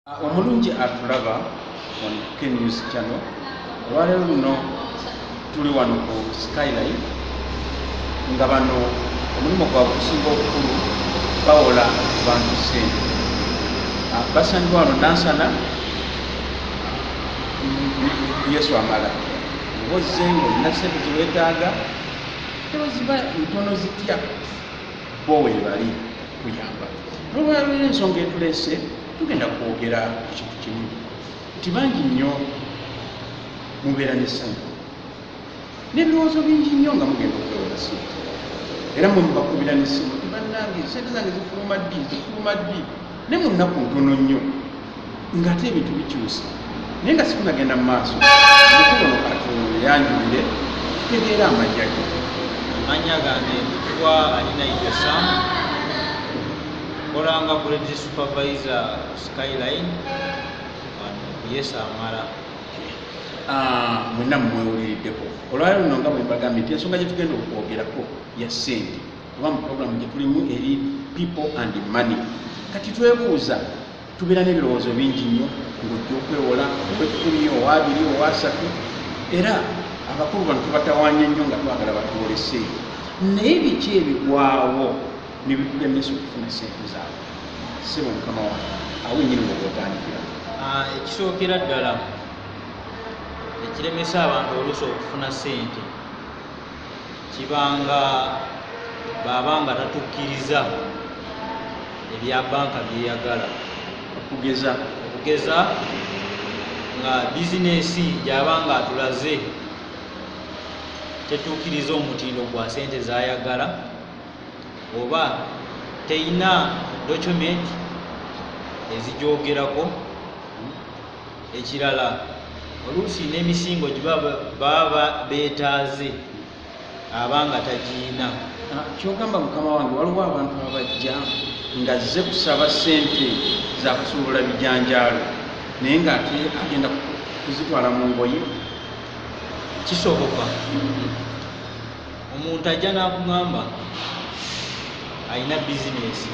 Ah, omulungi atulaba on knews channel olwaleero luno tuli wano ku skyline nga bano omulimu gwabwe okusinga obukulu bawola bantu sente ah, basangibwa wano nansana yesu amala obozengo olina sente zewetaaga teweziba ntono zitya bo webali kuyamba nolwalwera ensonga etulese tugenda kwogera ekintu kimu nti bangi nnyo mubeera nesanyu nebirowoozo bingi nnyo nga mugenda okwewola sente era mwe mubakubira nesimu tibanange sente zange zifuluma ddi zifuluma ddi ne mu nnaku ntono nnyo ng'ate ebintu bikyusa naye nga sikunagenda mu maaso mukubono katonda yanjulire tutegeera amajja ge amanya gange kuba alina itosa kolanga grade supervisor skyline yesamala ah, mwena mumwewuliriddeko olwali luno nga bwembagambye nti ensonga gyetugenda okwogerako ya sente oba mu puroguramu gye tulimu eri people and money kati twebuuza tubeera n'ebirowoozo bingi nnyo ng'ojja okwewola owekkumi owaabiri owaasatu era abakulu bano tubatawanya nnyo nga twagala batwolese naye biki ebigwawo ne bitulemesa okufuna sente zaabwe sebo mukama wa awo nyini wogotandikira ah, ekisookera ddala ekiremesa abantu oluusi okufuna sente kibanga baba nga tatukkiriza ebya banka byeyagala okugeza okugeza nga bizinesi gyaba nga atulaze tetuukiriza omutindo gwa sente zayagala oba teyina document ezigyogerako ekirala oluusi n'emisingo giba baba beetaaze aba nga tagiina ah, kyogamba mukama wange waliwo abantu abajja nga zze kusaba sente zakusuubula bijanjaalo naye nga ate agenda kuzitwala mu ngoye kisoboka omuntu ajja n'akugamba alina bizinesi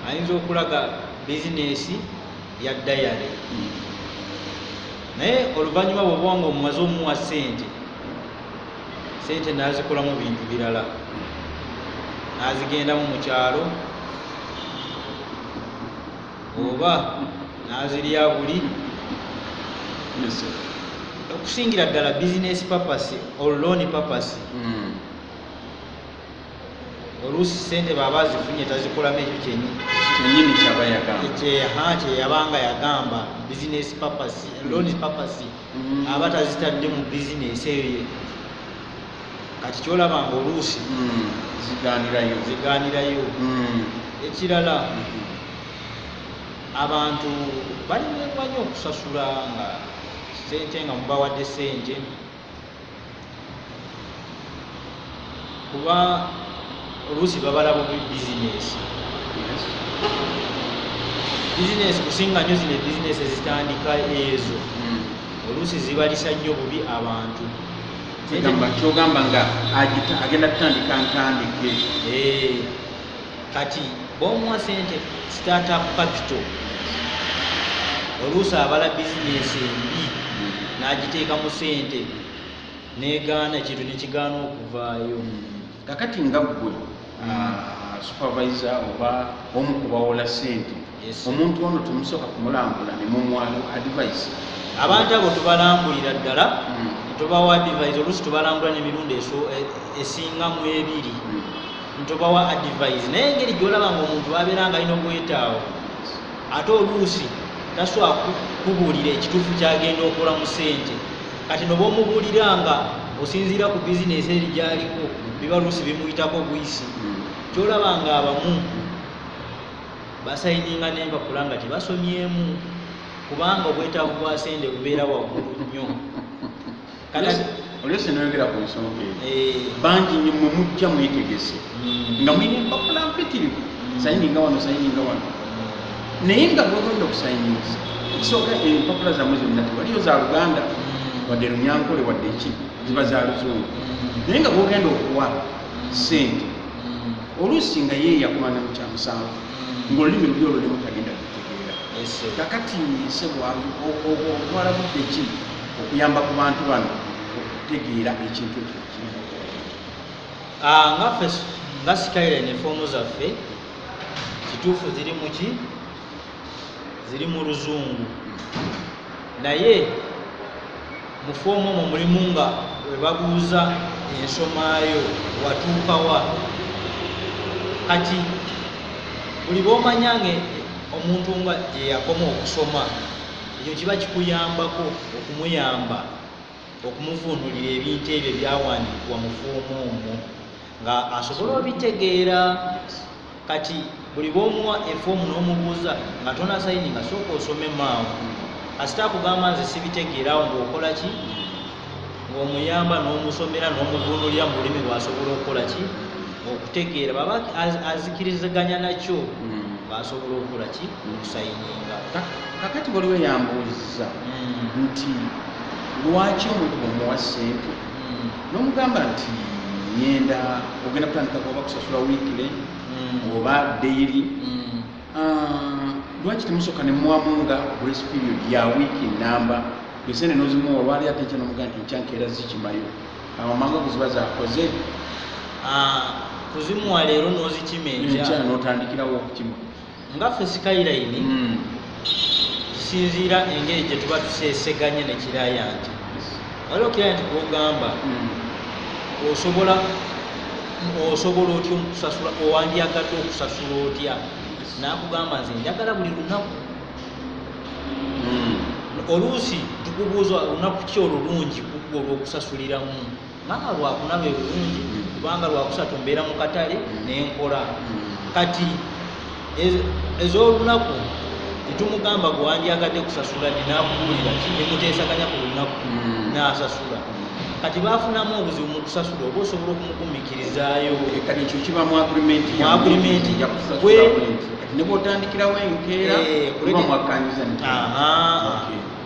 ayinza okulaga bizinesi ya dayale naye oluvannyuma bwoba nga omumaze omuwa sente sente nazikolamu bintu birala nazigendamu mukyalo oba nazirya buli okusingira ddala bizinesi papasi oluloni papasi mm. oluusi sente baba azifunye tazikolamu ekyo kyenyini kyeyabanga yagamba business purpose mm. loan purpose mm. aba tazitadde mu bizinesi eyo kati kyolaba nga oluusi mm. ziganirayo ziganirayo ekirala mm-hmm. abantu balimekwanyo okusasula nga sente nga mubawadde sente kuba oluusi babala bubi bizinesi bizinesi kusinga nyo zino ebizinesi ezitandika ezo hmm. oluusi zibalisa nnyo bubi abantu kyogamba nga agenda kutandika ntandike eh. kati bomuwa sente startup capital oluusi abala bizinesi embi n'agiteekamu sente negaana ekintu nekigaana okuvaayo kakati nga ggwe ah, supervisor oba omu kubawola sente omuntu ono tumusooka kumulambula ne mumwalo advise abantu abo tubalambulira ddala hmm. tubawa advise oluusi tubalambula nemirundi e, esinga mu ebiri hmm. ntubawa advise naye engeri gyolaba nga omuntu abeera nga alina obwetaawo ate oluusi tasobola kubuulira ekituufu kyagenda okola mu sente kati noba omubuulira nga osinziira ku bizinesi eri gyaliko biba luusi bimuyitako buyisi hmm. kyolaba nga abamu basayininga n'empapula nga tebasomyemu kubanga obwetaavu bwa sente bubeera waggulu nnyo olwese noyogera ku nsonga eyo eh. bangi nyo mwe mujja mwetegese hmm. nga mwine empapula mpitirivu hmm. sayininga wano sayininga wano hmm. naye nga bwegenda okusayinisa ekisooka empapula zamwe zonna tewaliyo za luganda wadde lunyankole wadde ki ziba za luzungu naye nga bwogenda okuwa sente oluusi nga ye yakulana mu kyamusanvu ng'olulimi lubi olulimu tagenda kutegeera kakati sebwalu otwala budde ki okuyamba ku bantu bano okutegeera ekintu ekyo ah, ngaffe nga sikaire ne foomu zaffe kituufu ziri muki ziri mu luzungu naye mu foomu omwo mulimu nga we babuuza ensomaayo watuukawa kati buli b'omanya nga omuntu nga gyeyakoma okusoma ekyo kiba kikuyambako okumuyamba okumuvvuunulira ebintu ebyo ebyawandiikibwa mu fuumu omwo nga asobole obitegeera kati buli bwomuwa efoomu n'omubuuza nga tona sayini nga sooka osome maawo asita akugamba nze sibitegeerawo ngaokola ki ngaomuyamba n'omusomera n'omuvvuunulira mu lulimi lwasobola okukola ki okutegeera baba azikiriziganya nakyo hmm. baasobola okukola ki okusayininga kakati waliwo yambuuzza hmm. nti lwaki omuntu omuwa sente hmm. nomugamba nti ngenda ogenda kutandika kuba kusasula wikile hmm. oba daily ah, lwaki temusoka nemwamunga grace period ya wiki namba esente nozimuwa olwali ate ekya nomuga nti nkyankeera zikimayo amamanga kuziba zakoze ah, kuzimuwa leero nozikima enkya notandikirawo okukima nga ffe skyline mm. tusinziira engeri gye tuba tuseseganye ne kirayanti waliwo kirayanti gwogamba mm. osobola osobola otya okusasula owandyagadde okusasula otya nakugamba nze njagala buli lunaku mm. oluusi tukubuuza olunaku ki olulungi kugwa olwokusasuliramu maama lwakuna lwe bulungi kubanga lwakusatu mbeera mu katale mm. nenkola mm. kati ez'olunaku tetumugamba gwewandyagadde kusasula ninakuwulira kinemuteesaganya ku lunaku mm. nasasula kati bafunamu obuzibu mu kusasula oba osobola okumugumikirizaayo eh, kati ekyo kiba mu agrimenti mu agrimenti nebwotandikirawo enkeera eh, kuba mwakkanyiza nti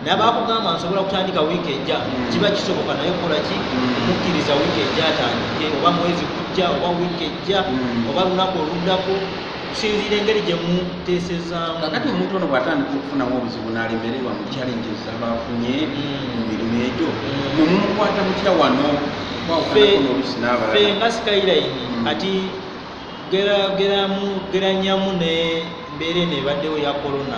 naye bakugamba nsobola kutandika wiiki ejja mm. kiba kisoboka naye kola ki mm. mukkiriza wiiki ejja atandike oba mwezi kujja oba wiiki ejja mm. oba lunaku oluddako kusinziira engeri gye muteesezaamu kakati omuntu ono bw'atandika okufunamu obuzibu n'alemererwa mu challenge zaba afunye mu mirimu egyo mwe mumukwata mutya wano kwawukanakonoolusi n'abalala fe nga skyline ati geranyamu ne mbeera eno ebaddewo ya corona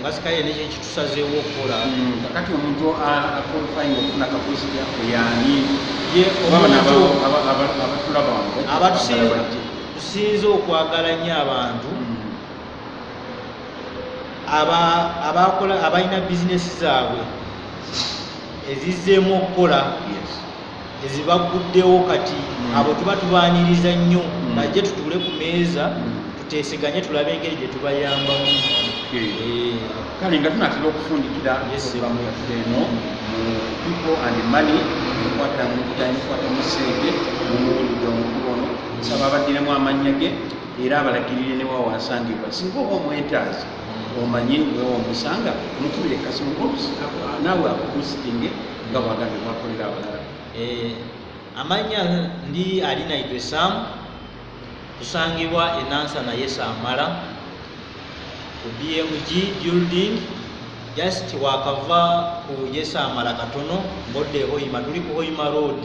ngasikale nekyo kitusazeewo okukola hmm, kakati omuntu akolfainga okufuna kapusita yani abatusinze okwagala nnyo abantu hmm. abakola abalina bizinesi zaabwe ezizzeemu okukola ezibagguddewo kati mm. abo tuba tubaaniriza nnyo mm. najje tutuule ku meeza mm. tuteeseganye tulabe engeri gye tubayambamu eh. kale nga tunatera okufundikira ebamu yaffe eno mu people and money ekwata mu kujanya ekwata mu sente mumuwulidde omukulu ono nsaba abaddiremu amannya ge era abalagirire newawansangibwa singa oba omwetaazi omanye wewa omusanga mukubire kasimu naawe akukusitinge nga bwagambye mwakolera abalala eh, amanya ndi ali naitwe sam tusangibwa enansa naye samala ku bmg building just wakava ku yesamala katono ngodde hoima tuli ku hoima road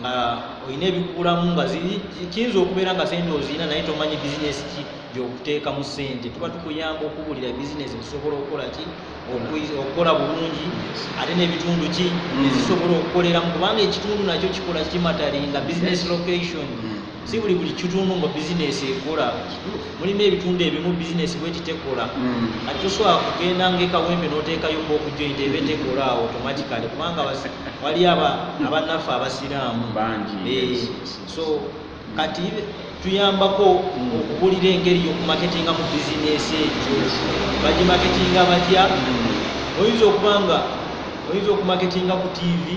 nga olina ebikuulamu nga kiyinza okubeera nga sente ozirina naye tomanyi bizinesi ki gyokuteeka mu sente tuba tukuyamba okubuulira bizinesi zisobola okukola ki okukola bulungi ate n'ebitundu ki ezisobola mm. okukoleramu kubanga ekitundu nakyo kikola kimataringa bizinesi location mm. si buli buli kitundu nga bizinesi ekola mulimu ebitundu ebimu bizinesi bweti tekola mm. ati tosobola kugenda ngaekawembe notekayo ngaokujointa ebe tekola awo automatically kubanga wali abanaffe abasiraamu eh, so kati tuyambako mm. okubulira engeri yokumaketinga mu bizinesi ekyo bagimaketinga batya mm. oyinza okuba nga oyinza okumaketinga ku tivi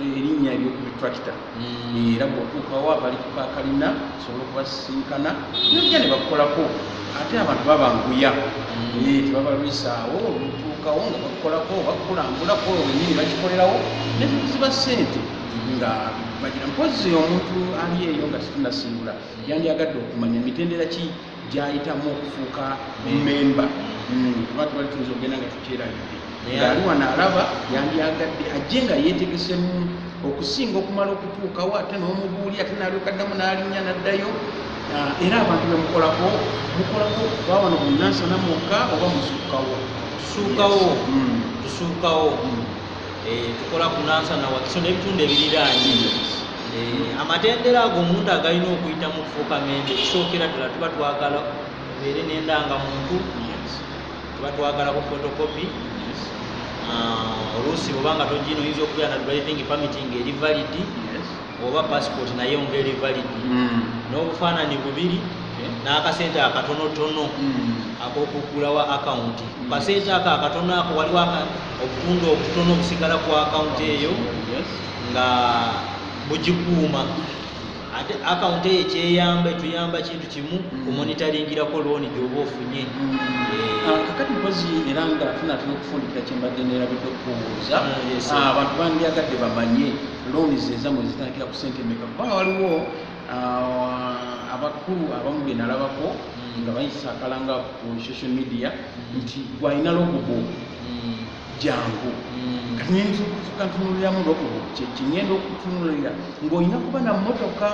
erinnya eryokuli tractor mm. era bwotuukawo abali kukakalina osobola okubasisinkana nojja ne bakukolako ate abantu babanguya mm. eh, tebabalwisaawo olutuukawo nga bakukolako bakukulambulako wenyini bakikolerawo neziba sente nga bagira mpozi omuntu ali eyo nga situnasimbula yandyagadde okumanya mitendera ki gyayitamu okufuuka memba hmm, kuba tubali tuyinza okugenda nga tukyerabidde ngaali wano alaba yandyagadde ajje nga yeetegesemu okusinga okumala okutuukawo ate n'omubuuli ate naalyokaddamu n'alinnya n'addayo ah, era abantu bemukolako mukolako kuba wano bunansana mwokka oba musuukawo tusuukawo hmm. tusuukawo hmm. Eh, tukola ku nansa na wakiso n'ebitundu ebiriraanye eh, amatendera ago omuntu agalina okuyita mu kufuuka mende ekisookera ddala tuba twagala beere n'endanga muntu tuba twagala ku fotokopi ah, oluusi oba nga togina oyinza okubeera na driving permitting eri validi oba passport naye ngeri valid mm. n'obufaananyi bubiri eh, n'akasente akatonotono mm. ak'okuggulawo akawunti kasente mm. ako akatono ako waliwo obutundu obutono obusigala ku akawunti eyo nga bugikuuma ate akawunti eyo ekyeyamba etuyamba kintu kimu kumonitaringirako looni gyoba ofunye eh, ah, kakati mpozi era nga tunatera okufundikira kyembadde nerabidde okubuuza ah, ah, abantu bandyagadde bamanye looni zezamwe zitandikira ku sente meka kubanga waliwo uh, abakulu abamu benalabako mm. nga bayisa akalanga ku social media mm. nti gwalina logobo mm. jangu katintunuliramu logobo kyekingenda okutunulira ngaolina kuba na motoka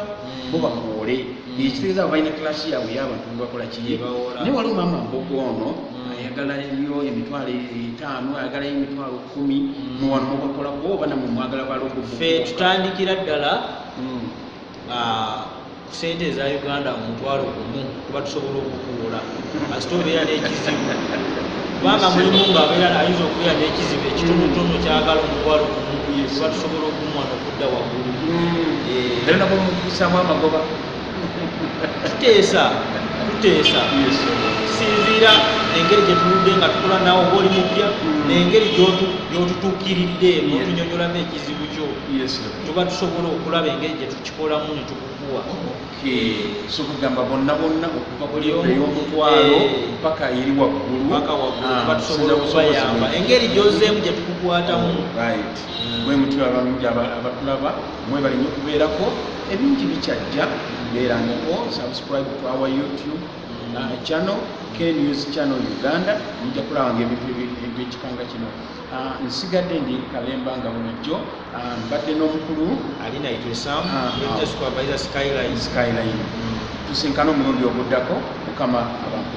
bo bakuwole ekitegeeza abo balina kilasi yabwe yabantu bebakola kiye naye waliwo mama mbogo ono ayagala yo emitwalo etaano ayagala yo emitwalo kumi muwano mubakolako oba namwe mwagala balongo fe tutandikira ddala hmm. ah, ku sente eza uganda omutwalo gumu kuba tusobola okukuula kasita obeera n'ekizibu kubanga mulimu ngaabeera ayinza okubeera n'ekizibu ekitonotono kyagala omutwalo gumu kuba tusobola okumuwa nokudda waggulu hmm. eh. era nabomukusamu amagoba tuteesa tuteesa sinziira engeri gyetunudde nga tukola nawe oba oli mupya nengeri gyotutuukiridde notunyonyolamu ekizibu kyo tuba tusobola okulaba engeri gyetukikolamu netukukuwa sokugamba bonna bonna okuva kuliomutwalo eh. paka eri wagguluakubayamba ah, engeri gyozeemu gyetukukwatamu bwemutyo abalungi abatulaba mwebale nyo kubeerako ebingi bikyajja beerangako subscribe to our youtube uh, channel knews channel uganda mujja kulabanga ebintu ebyekikanga kino uh, nsigadde ndi kalemba nga bulijjo uh, mbadde n'omukulu alinaitweskyline tusinkana omulundi oguddako mukama abantu